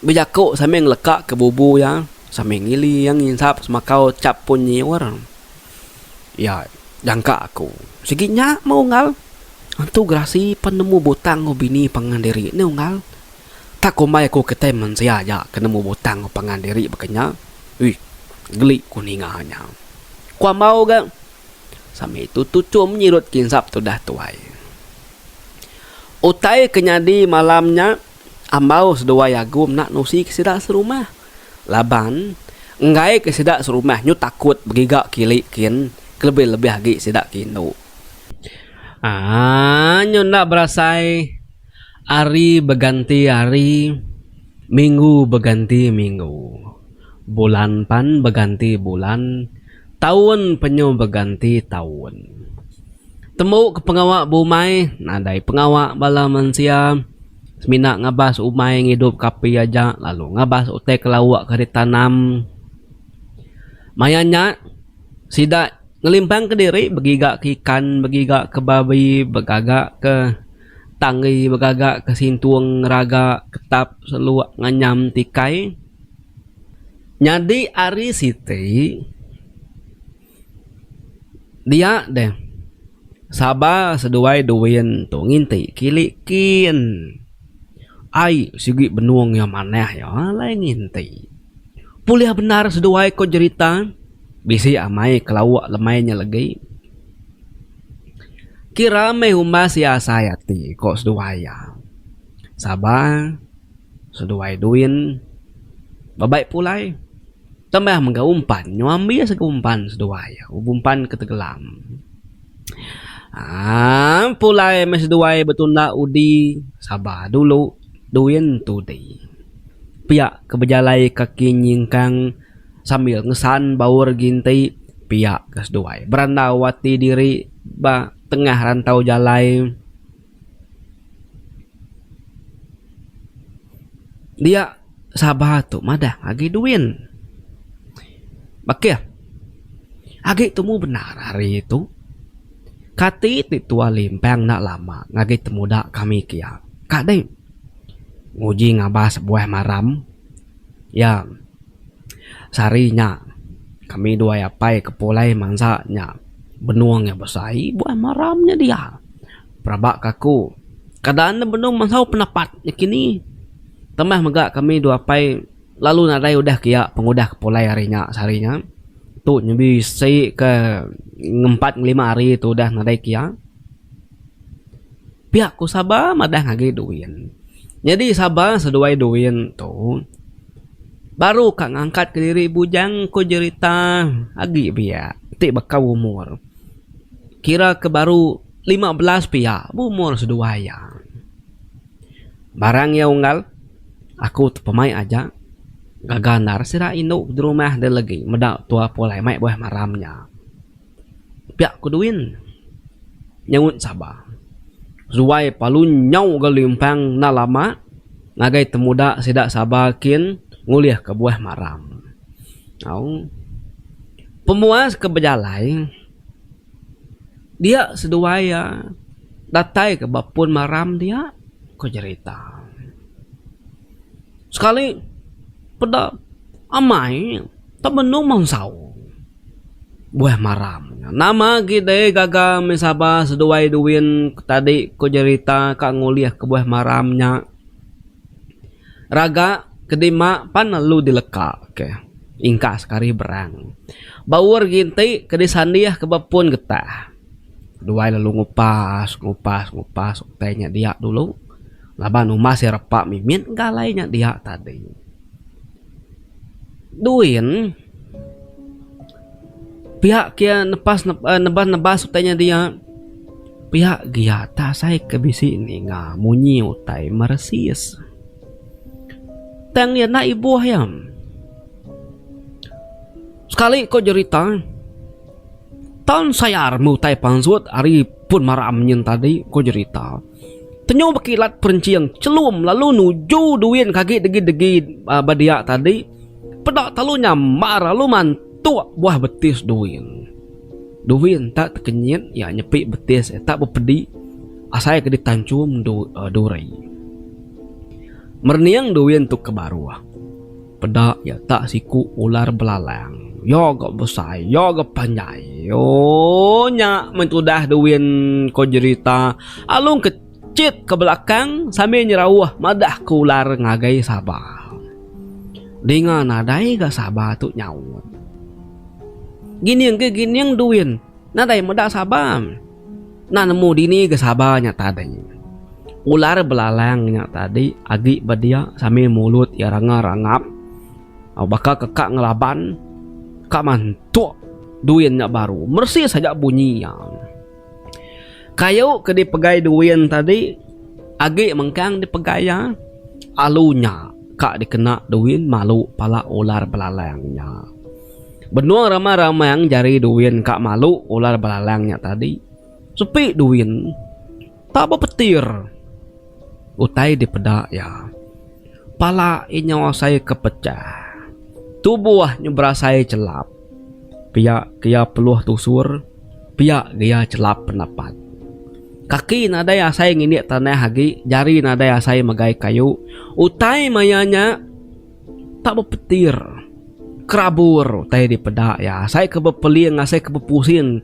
bejaku sambil ngeleka ke bubu iya sambil ngili iya nginsap semakau chap pun nyiur. Iya jangka aku. Sigi nya meh Unggal. Antu gerasi pan nemu butang enggau bini pangan diri neh Unggal. Tak kumbai aku kitai mensia aja ke nemu butang enggau pangan diri baka nya. Uih geli ku ninga nya. Ku Ambau ga sambil tutuchum nyirut kinsap tudah tuai. Utai ke nyadi malam nya ambau seduai agu menda nusi ke sida serumah laban enggai ke sida serumah nyu takut begiga kili kin kelebih-lebih agi sida ke indu aaa nyu enda berasai hari beganti hari minggu beganti minggu bulan pan beganti bulan. Taun penyu beganti taun. Tembu ke pengawa beumai nadai pengawa bala mensia semina ngabas umai ngidup ke api aja lalu ngabas utai ke lauk ke ditanam. Maya nya sida ngelimpang ke diri begiga ke ikan begiga ke babi begaga ke tanggi begaga ke sintung ngeraga ketap seluk nganyam tikai. Nyadi ari siti dia deh saba seduai duin tu nginti kili kin ai sigi benung iya manah iya alai nginti bulih bendar seduai ko jerita bisi amai ke lawa lemai nya legi kira meh umbas iya asai ati ko seduai iya saba. Seduai Duin bebai pulai tambah mega umpan nyambi sega umpan seduai umpan ke tegelam aaa pulai meh seduai betunda udi sabar dulu Duin Tudi pia ke bejalai kaki nyingkang sambil ngesan baur ginti pia ke seduai berandau ati diri ba tengah rantau jalai. Dia Sabah tu madah agi duin. Bakih. Agi tumu bendar hari tu. Kati ti tua limpang enda lama ngagai temuda kami kia. Ka dei. Nguji ngabas buah maram. Iya. Sehari nya, kami duai apai ke pulai mansa nya benung iya besai buai maram nya dia. Rabak ke aku, kada enda benung mesau pendapat nakini. Tambah mega kami dua apai lalu nadai udah ke iya pengudah ke pulai hari nya sehari nya. Tu nya bisi ke ngempat ngelima hari tu udah nadai ke iya. Pia ku Saba madah ngagi Doin. Nyadi Saba seduai Doin tu baru ka ngangkat ke diri bujang ku jerita agi pia ti baka umur kira ke baru lima belas pia umur seduai iya. Barang iya unggal aku ti pemai aja gaga endar sida indu di rumah deh legi meda tua pulai mai buah maram nya. Piak ku Duin nyaut saba. Zuai palu nyau ga limpang enda lama ngagai temuda sida saba kin ngulih ka buah maram. Au. Pemuas ke bejalai dia seduai iya datai ka ba pun maram dia ku jerita. Sekali peda amai tau benung mansau. Buah maram nya. Nama agi deh gaga meh Sabah seduai duin tadi ku jerita ka ngulih ke buah maram nya. Raga ke dima pan ne lu dileka ke ingka sekali berang. Baur agi enti ke disandih ke ba pun getah. Duai lalu ngupas ngupas ngupas utai nya dia dulu laban umas iya repa mimit engka alai nya dia tadi. Duin, pia ke nepas neban nebas utai nya dia, pia gia tak asai ke bisi ninga munyi utai meresis. Tang iya enda ibuh iya. Sekali ko jerita, taun sayar meh utai pansut ari pun maram nyin tadi ko jerita. Tenyu bekilat perenching chelum lalu nuju duin ke agi degi-degi ba dia tadi. Peda telu nyambar lalu mantuk buah betis duin. Duin tak tekenyit iya nyepi betis iya tak bepedi asai ke ditanchum duri. Merening duin tu ke baruh. Peda iya tak siku ular belalang. Iya ga besai, iya ga panjai. Ooh nya meh tudah Duin ko jerita Along ke chit ke belakang sambil nyerauh madah ke ular ngagai Saba. Dinga nadai ga Saba tu nyaut. Gining ke gining Duin. Nadai meda sabar. Enda nemu dini ke sabar nya tadi. Ular belalang nya tadi agi ba dia sambil mulut iya ranga rangap. Au baka ke ka ngelaban ka mantuk duin nya baru. Meresis aja bunyi iya. Kayu ke dipegai duin tadi agi mengkang dipegai iya. Alu nya ka dikena duin malu pala ular belalang nya. Benung rama ramang jari duin ka malu ular belalang nya tadi. Sepi duin. Tak bepetir. Utai dipeda iya. Pala inya asai ke pecah. Tubuh nya berasai chelap. Pia ke iya peluh tusur, pia ge iya chelap penapat. Kaki nadai asai ngindik tanah agi, jari nadai asai megai kayu. Utai maya nya. Tak bepetir, kerabur utai dipeda iya. Asai ke bepeling, asai ke bepusing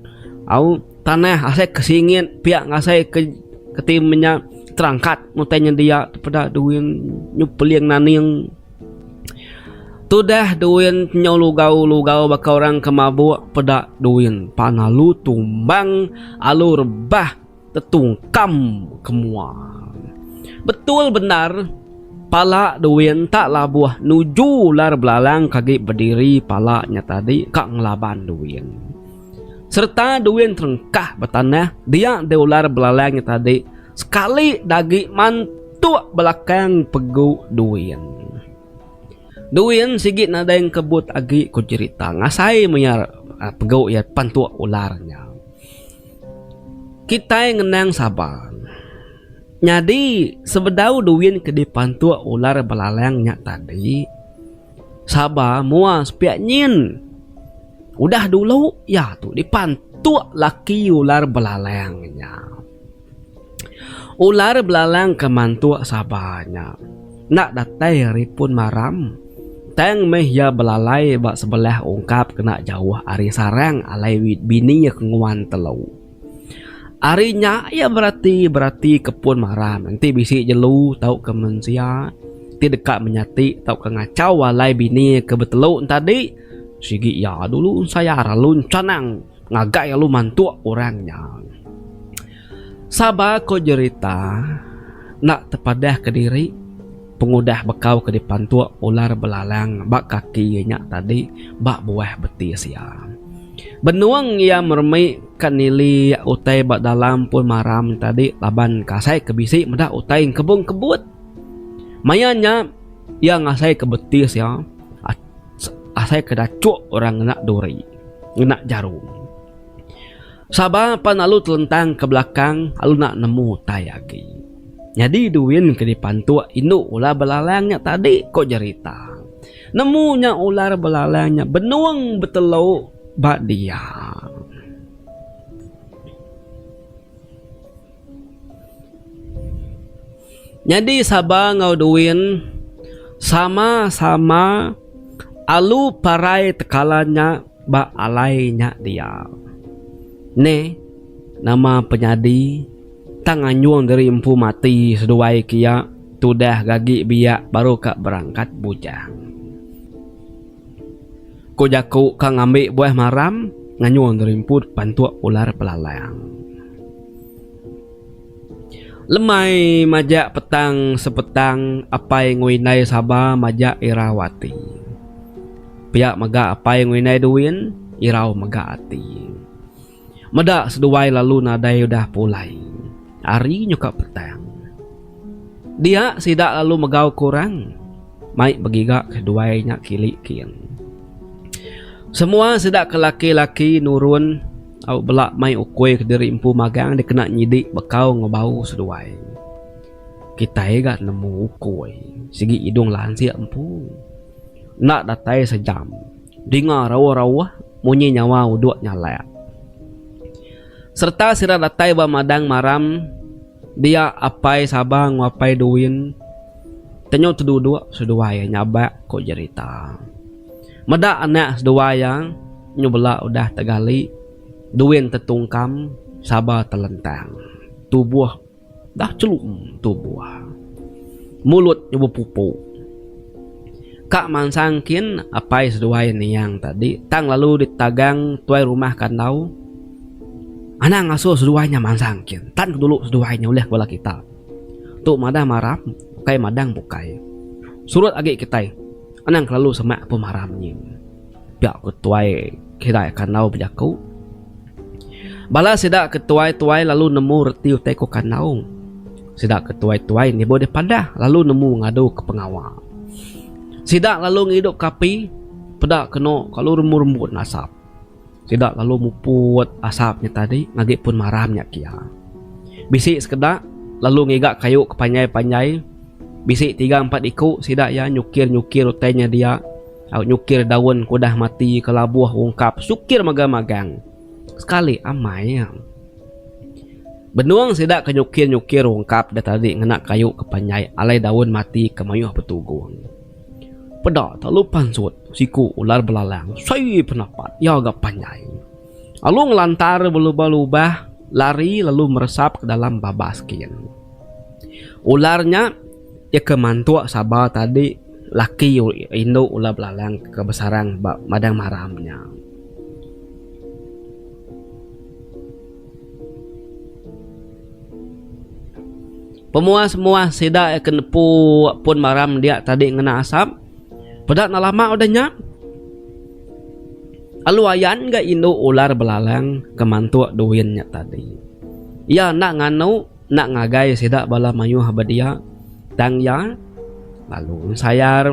au tanah, asai ke singit pia ngasai ke keti menya terangkat utai nyendia tu peda duin nyepeling naning. Tudah duin nyau lugau-lugau baka orang ke mabuk peda duin pan alu tumbang, alu rebah. Tetung kam ke mua. Betul bendar pala duin tak labuh nuju ular belalang kagi bediri pala nya tadi ka ngelaban duin. Sereta duin terengkah ba tanah dia deh ular belalang nya tadi sekali dagi mantuk belakang pegu duin. Duin sigi nadai engkebut agi ku jerita ngasai maya pegu iya pantuk ular nya. Kitai ngenang sabar. Nyadi, sebedau duin ke dipantuk ular belalang nya tadi, sabar mua sepiak nyin. Udah dulu iya tu dipantuk laki ular belalang nya. Ular belalang ke mantuk Sabah nya enda datai ari pun maram tang meh iya belalai ba sebelah ungkap kena jauh ari sarang alai bini iya ke nguan telu. Ari nya iya berati-berati ke pun maram enti bisi jelu tauka mensia ti deka menyati tauka ngachau alai bini iya ke betelu enti adi sigi iya dulu ensayar lalu encanang. Ngagai alu mantuk orang nya. Saba ko jerita enda tepadah ke diri pengudah bekau ke dipantuk ular belalang ba kaki iya nya tadi ba buah betis iya. Benung iya meremi ka nili utai ba dalam pun maram nya tadi laban ka asai ke bisi meda utai engkebung kebut. Maya nya iya ngasai ke betis iya. asai ke dachok orang ngena duri, ngena jarum. Saba pan alu telentang ke belakang alu enda nemu tai agi. Nyadi duin ke dipantok indu ular belalang nya tadi, ko jerita. Nemu nya ular belalang nya benung betelu ba dia. Nyadi Saba enggau Duin sama-sama alu parai tekalan nya ba alai nya dia. Ne nama penyadi tang anjung diri empu mati seduai ke iya tudah ke agi biak baru ka berangkat bujang. Ku jaku ka ngambi buah maram nganyung gerimput pantuk ular belalang. Lemai majak petang sepetang apai enggau indai saba majak irau ati. Pia mega apai enggau indai duin irau mega ati. Meda seduai lalu nadai udah pulai ari nyuka petang. Dia sida lalu megau ke orang mai begiga ke duai nya kili king. Semua sida ke laki-laki nurun au bela mai ukui ke diri empu magang dikena nyidi bekau enggau bau seduai. Kitai ga nemu ukui sigi idung lansik empu. Enda datai sejam. Dinga rauh-rauh munyi nyawa uduk nyalak. Sereta sida datai ba madang maram dia Apai Saba enggau Apai Duin tenyu teduduk seduai iya nyabak ku jerita. Meda anak seduai iya nyu bela udah tegali, Duin tetungkam, Saba telentang. Tubuh. Dah celung tubuh. Mulut nya bepupu. Ka mansang kin apai seduai niang tadi tang lalu ditagang tuai rumah kandau. Anang ngasuh seduai nya mansang kin tan ke dulu seduai nya ulih ke bala kita. Tu madah maram ukai madang bukai. Surut agi kitai anang kelalu semak pemaram nyin. Pia ku tuai kirai kandau bejaku. Bala sida ke tuai-tuai lalu nemu reti utai ku kandau. Sida ke tuai-tuai nibuh deh padah lalu nemu ngadu ke pengawa. Sida lalu ngidup ke api peda kenu kalu rembun-rembun asap. Sida lalu muput asap nya tadi ngagai pun maram nya kia. Bisi sekeda lalu ngiga kayu ke panjai-panjai. Bisi tiga empat iku sida iya nyukir-nyukir utai nya dia. Au nyukir daun ke udah mati ke labuh ungkap sukir mega magang sekali amai iya. Benung sida ke nyukir-nyukir ungkap deh tadi ngena kayu ke panjai alai daun mati ke mayuh betugung. Peda telalu pansut siku ular belalang sui penapat iya ga panjai. Alu ngelantar belubah-lubah lari lalu meresap ke dalam babas kin. Ular nya iya ke mantuk sabar tadi. Laki indu ulah belalang ke besarang ba madang maram nya. Pemuah-muah sida iya ke nepu pun maram dia tadi ngena asap. Peda enda lama udah nya, alu ayan ga indu ular belalang ke mantuk duin nya tadi. Iya enda nganu. Enda ngagai sida bala mayuh ba dia, tang iya lalu ensayar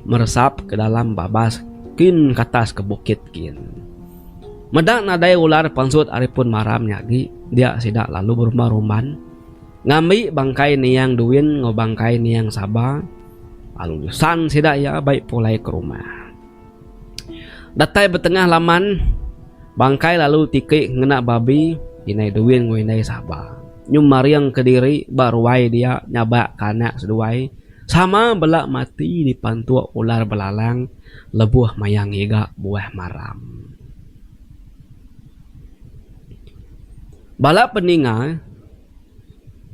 meresap ke dalam babas kin ke atas ke bukit kin. Meda nadai ular pansut ari pun maram nya agi, dia sida lalu berumban-rumban ngambi bangkai Niang Duin enggau bangkai Niang Saba lalu nyusan sida iya bai pulai ke rumah. Datai betengah laman, Bangkai lalu tiki ngena babi indai Duin enggau indai Saba. Nyu maringka diri ba ruai dia nyabakka anak seduai sama bela mati dipantuk ular belalang lebuh maya ngiga buah maram. Bala peninga.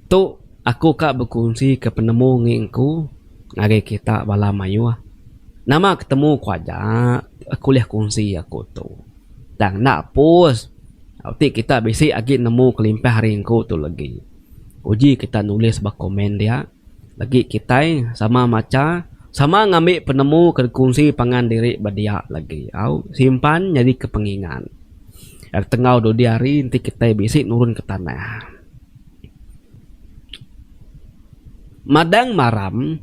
Tu aku ka bekunsi ke penemu ngi engku ngagai kita bala mayuh. Nama ke temu ku aja aku ulih kunsi aku tu. Tang enda pus ti kita bisi agi nemu kelimpah ari engku tu legi. Uji kita nulis ba komen dia. Agi kitai sama macha, sama ngambi penemu ke dikunsi pangan diri ba dia lagi au simpan nyadika pengingat. Ag tenggau dudi hari enti kitai bisi nurunka tanah. Madang maram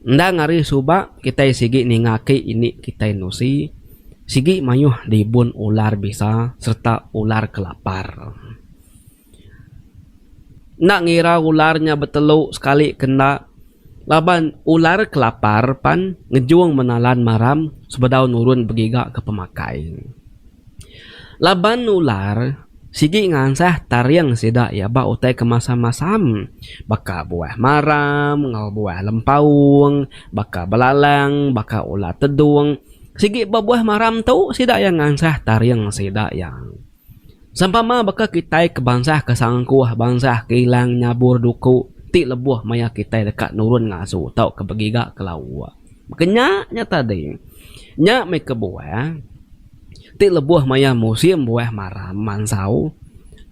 endang ari suba kitai sigi ninga aki indi kitai nusi sigi mayuh dibun ular bisa sereta ular kelapar. Enda ngira ular nya betelu sekali ke enda laban ular kelapar pan ngejung menalan maram sebedau nurun begiga ke pemakai. Laban ular sigi ngansah taring sida iya ba utai ke masam-masam baka buah maram enggau buah lempaung, baka belalang, baka ular tedung. Sigi ba buah maram tu sida iya ngansah taring sida iya. Sempama baka kitai ke bansa ke sangkuh bansa ke ilang nyabur duku ti lebuh maya kitai deka nurun ngasu tauka begiga ke lauk. Baka nya nya tadi nya meh kebuah ti lebuh maya musim buah maram mansau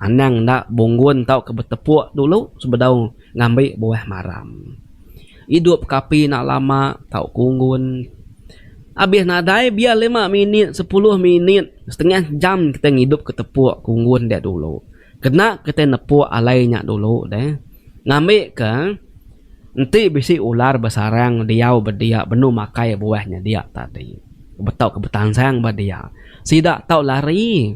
anang enda bunggun tauka betepuk dulu sebedau ngambi buah maram. Idup kapi enda lama tau ku unggun. Abis nadai biar lima minit sepuluh minit setengah jam kitai ngidup ke tepuk ku unggun dia dulu. Kena kitai nepuk alai nya dulu deh. Ngambi ke enti bisi ular besarang diau ba dia benung makai buah nya dia tadi betau ke betansang ba dia sida tau lari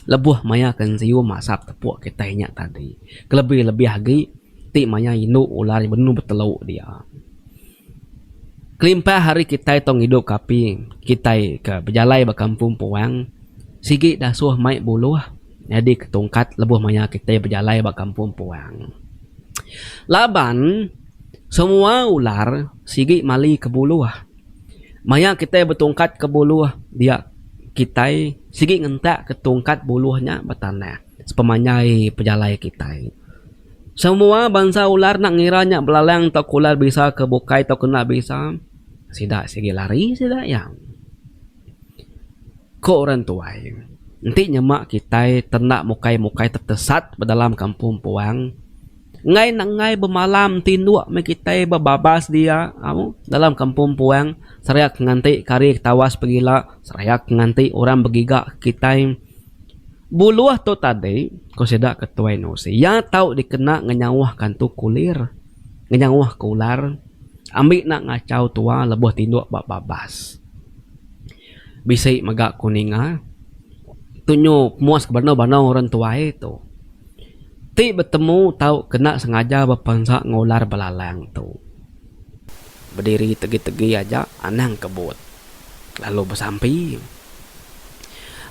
lebuh maya ke enzim asap tepuk kitai nya tadi kelebih lebih agi. ti maya indu ular benung betelu dia. Kelimpah hari kitai tu ngidup ke api, kitai ke bejalai ba kampung puang sigi dasuh mai buluh nyadi ke tungkat lebuh maya kitai bejalai ba kampung puang. Laban semua ular sigi mali ke buluh. Maya kitai betungkat ke buluh dia kitai sigi ngentak ke tungkat buluh nya betanah. sepemanjai pejalai kitai. Semua bansa ular enda ngira nya belalang tauka ular bisa ke bukai tauka enda bisa, sida sigi lari sida iya. Ku orang tuai, enti nyema kitai te enda mukai-mukai te tesat ba dalam kampung puang, enggai nenggai bemalam ti nduk meh kitai bebabas dia au dalam kampung puang seriak nganti kari tawas pegila, seriak nganti orang begiga kitai. Buluh tu tadi, ku sida ke tuai Nosi, iya tau dikena ngenyauh kantu kulir, ngenyauh ke ular, ambi enda ngachau tua lebuh tinduk ba babas. Bisi mega ku ninga, tunyu pemuas ke banau-banau orang tuai tu, ti betemu tau ke enda sengaja bepansa enggau ular belalang tu, bediri tegi-tegi aja anang kebut. lalu besampi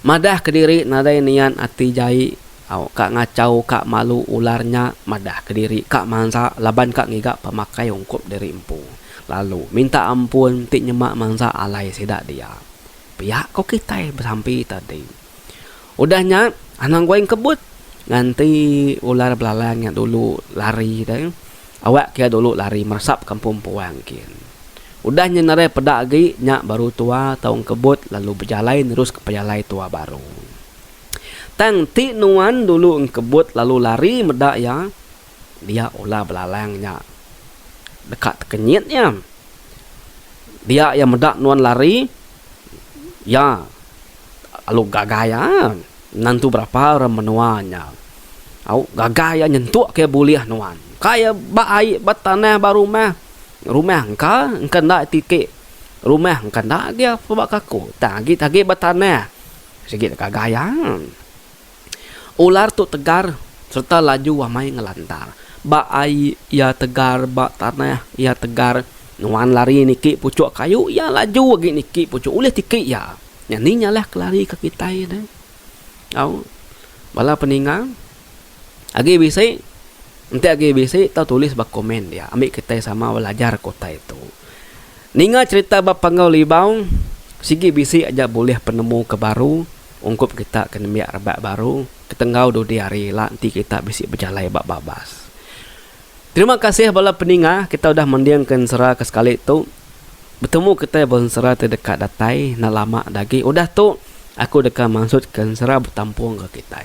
madah kediri nadai niat ati jai au ka ngachau ka malu ular nya madah kediri ka mansa laban ka ngiga pemakai ungkup diri empu lalu minta ampun ti nyema mansa alai sida dia pia ko kitai besampi tadi. Udah nya anang gua engkebut nganti ular belalang nya dulu lari deh. Awak ke dulu lari meresap kampung puang kin. Udah nya nereh peda agi nya baru tua tau engkebut lalu bejalai nerus ke pejalai tua baru. Tang ti nuan dulu engkebut lalu lari meda iya dia ular belalang nya deka tekenyit iya. Dia iya meda nuan lari iya. Lalu gagai iya endang tu berapa orang menua nya au gagai iya nyentuk kiye bulih nuan engka iya ba ai ba tanah ba rumah rumah engka engka enda ti ti rumah engka enda agi pebak kaku tang agi agi ba tanah sigi gagai iya. Ular tu tegar sereta laju amai ngelantar. Ba ai iya tegar, ba tanah iya tegar. Nuan lari niki puchuk kayu, iya laju agi niki puchuk ulih tiki iya. Nyadi nya lah kelari ke kitai ne. Au bala peninga agi bisi enti agi bisi tau tulis ba komen dia ambi kitai sama belajar ke utai tu. Ninga cherita ba Panggau Libau sigi bisi aja bulih penemu ke baru Ungkup kita ke nembiak rebak baru ketenggau dudi hari ila enti kita bisi bejalai ba babas. Terima kasih bala peninga kita udah mendingka ensera ke sekali tu. Betemu kitai ba ensera ti deka datai enda lama agi. Udah tu aku deka mansutka ensera betampungka kitai.